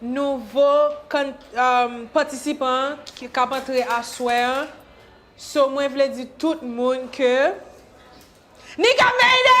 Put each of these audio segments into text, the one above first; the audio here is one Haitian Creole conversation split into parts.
Nouvo patisipan kap antre aswè an so mwen vle di tout moun ke Nika made it!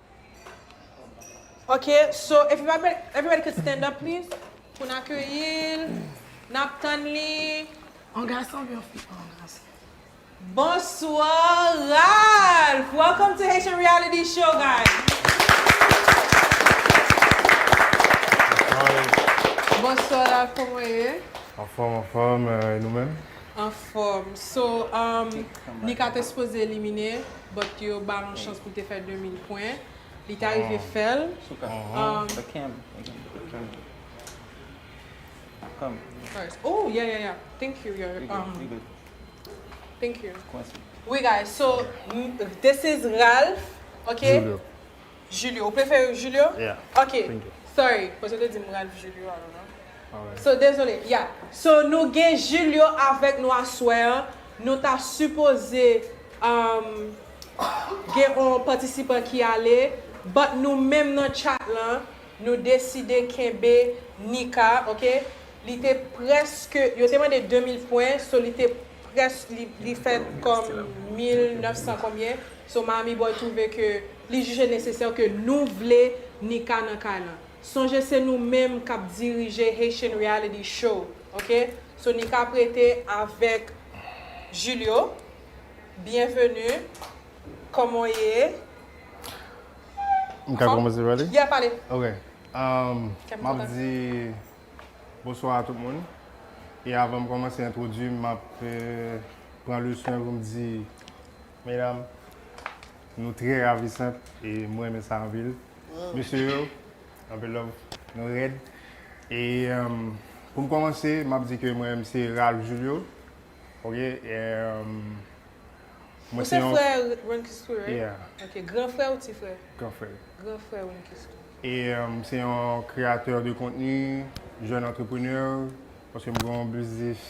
Ok so everybody everybody can stand up please pou n akeyi l nap tann li Yon gason oubyen yon fi? Oh yon gason. Bonswa Ralph! Welcome to Haitian Reality Show guys! Bonswa Ralph kòman w ye? Anfòm anfòm e nou menm? Anfòm so Nika te sipoze elimine but ke yo bal on chans pou l te fè 2000 pwen, li ta rive fè l. Souka, the cam again, the camera. Come. Alright, ooh yeah yeah yeah, thank you your um. You good. Thank you. Kwen se. Oui guys, so this is Ralph, ok. Julio. Julio ou prefere Julio? Yeah Ok thank you Sorry koz yo te dim Ralph Julio alò nan Alright So dezole Yeah So nou gen Julio avèk nou aswè an Nou ta sipoze um gen on patisipan ki ale But nou menm nan chat lan nou deside kenbe Nika ok Li te prèske Yo te mande 2000 pwen So li te Près li fèt kòm 1900 konbyen so Miami Boy twouve ke li jije nesesè ke nou vle Nika nan kay lan sonje se nou menm kap dirije Haitian Reality Show ok so Nika prete avèk Julio Byenveni Kòman w ye Mka kòmanse pale? Yeah pale Ok Map di Bonswa a tout moun e avan m kòmanse entwodui m map pran le swen pou m di medam nou trè ravisant e m renmen sa anpil mesye yo anpil love nou rèd e pou m kòmanse map di ke mwen se Ralph Julio ok. Mwen Ou se se yon frè Runcusque, right? Yeah. Ok, gran frè ou ti frè? gran frè l. Gran frè Runcusque. E m se yon kreyatè de kontni, jèn antreprenè, paske m gen yon biznis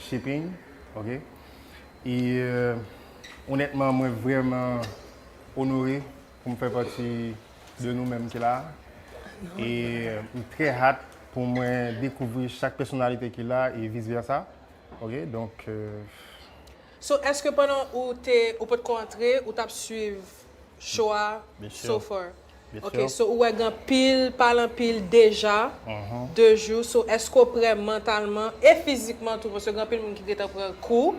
shipping, ok? E onètman mwen vrèman onore pou m fè pati de nou menm ki la a. E m trè hat pou mwen dekouvri chak pèsonalite ki la e vis vèsa, ok? Donk. So eske pandan ou te ou pot ko antre ou tap swiv show a so far ok so ou wè gen anpil pale anpil deja de jou so eske ou prè mantalman e fizikman tou paske gen anpil moun ki gentan pran kou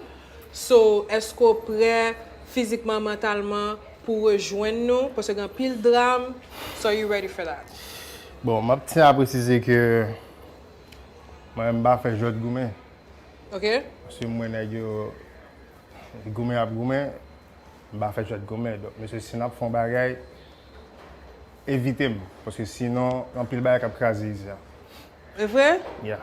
so eske ou prè fizikman mantalman pou rejwenn nou paske gen anpil dram so are you ready for that. Bon map tyen a presize ke mwen menm m pa fè jwèt goumen Ok. Si mwen nèg yo goumen ap goumen, m pa fè jwèt goumen. Donk mesye si n ap fè yon bagay, evite m. Paske sinon, anpil bagay k ap kraze izi a. E vre? Ya.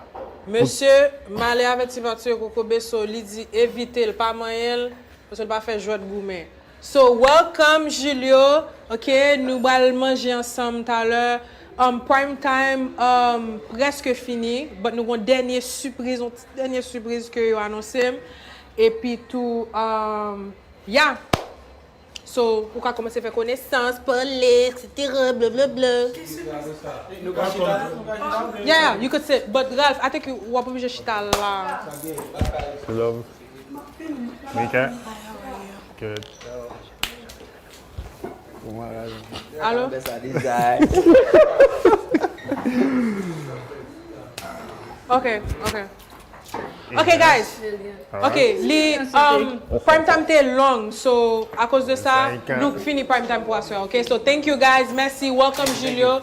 Mesye, m ale avè ti va tiye kokobe so li di evite l pa manyen l paske l pa fè jwèt goumen. So welcome Julio ok nou bal manje ansanm talè um prime time um preske fini but nou gon dènye sipriz yon ti dènye sipriz ke yo anonsem epi tou um ya so ou ka komanse fè konesans pale etc blablabla. Ki sipriz sa? Nou ka chita la nou ka chita la? Yeah you could sit but Ralph I think wap oblije chita la. Love. Mika. Good. Alo. Ok, ok. Ok guys. Ok, li prime time te long. So, akoz de sa, nou fini prime time pou aswe. Ok, so thank you guys. Mèsi. Welcome Julio.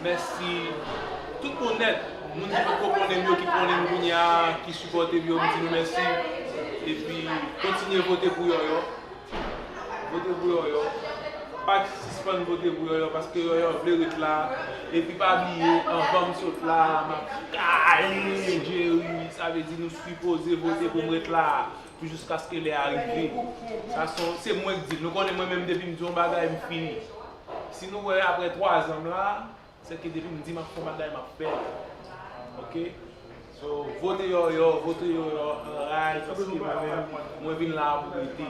Mèsi tout moun nèt, moun ki potko konnen m yo ki konnen m kounye a ki sipòte m yo m di nou mèsi epi kontinye vote pou Yòyò vote pou Yòyò pa sispann vote pou Yòyò paske Yòyò vle ret la epi pa bliye anvan m sot la a m ap kale Jerry sa vle di nou sipoze vote pou m ret la a pou jiskaske lè a rive sa son se mwen k di l nou konnen mwen menm depi m di yon bagay m fini. Si nou wè aprè 3 zan m la, se ke depi m di m ap fè yon bagay m ap fè l. Ok. So, vote yòyò, vote yòyò an ray paske mwen menm mwen vin la a pou rete.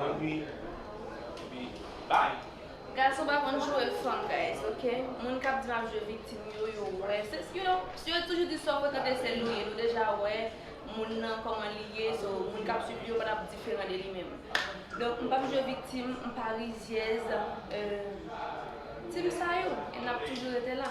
Epi, epi bye. Gason pa konn joure fanm guys ok moun kap di map joure viktim yo yo wè se yo yo toujou di sa yo frekante sel yo ye nou deja wè moun nan kòman li ye so moun kap swiv li yo pa tap diferan de li menm donk m pap jwe viktim m pa rizyèz team sa yo e nap toujou rete la.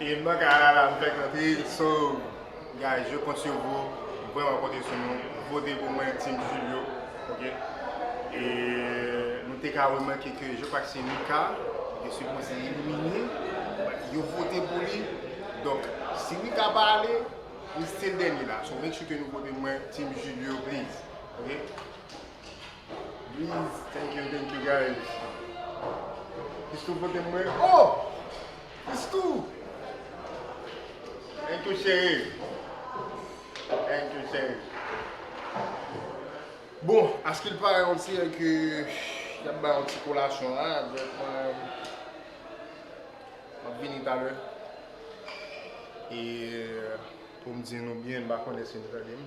E m nan kay la la m fèk antre so guys yo kont yo vo vrèman konte sou nou vote pou mwen team julio ok e nou te ka remake ke je kwak se Mika ki te sipoze elimine yo vote pou li donk si Mika pa ale li stil dènye la so make sure ke nou vote mwen team julio please ok please thank you thank you guys plis nou vote mwen oh. Diskou! Anh tou chere! Anh tou chere! Bon, askil pare on dirait ke yap bay on ti kolasyon la, donk mwen map vini talè e poum di nou byen, m pa konnen si nou tande m.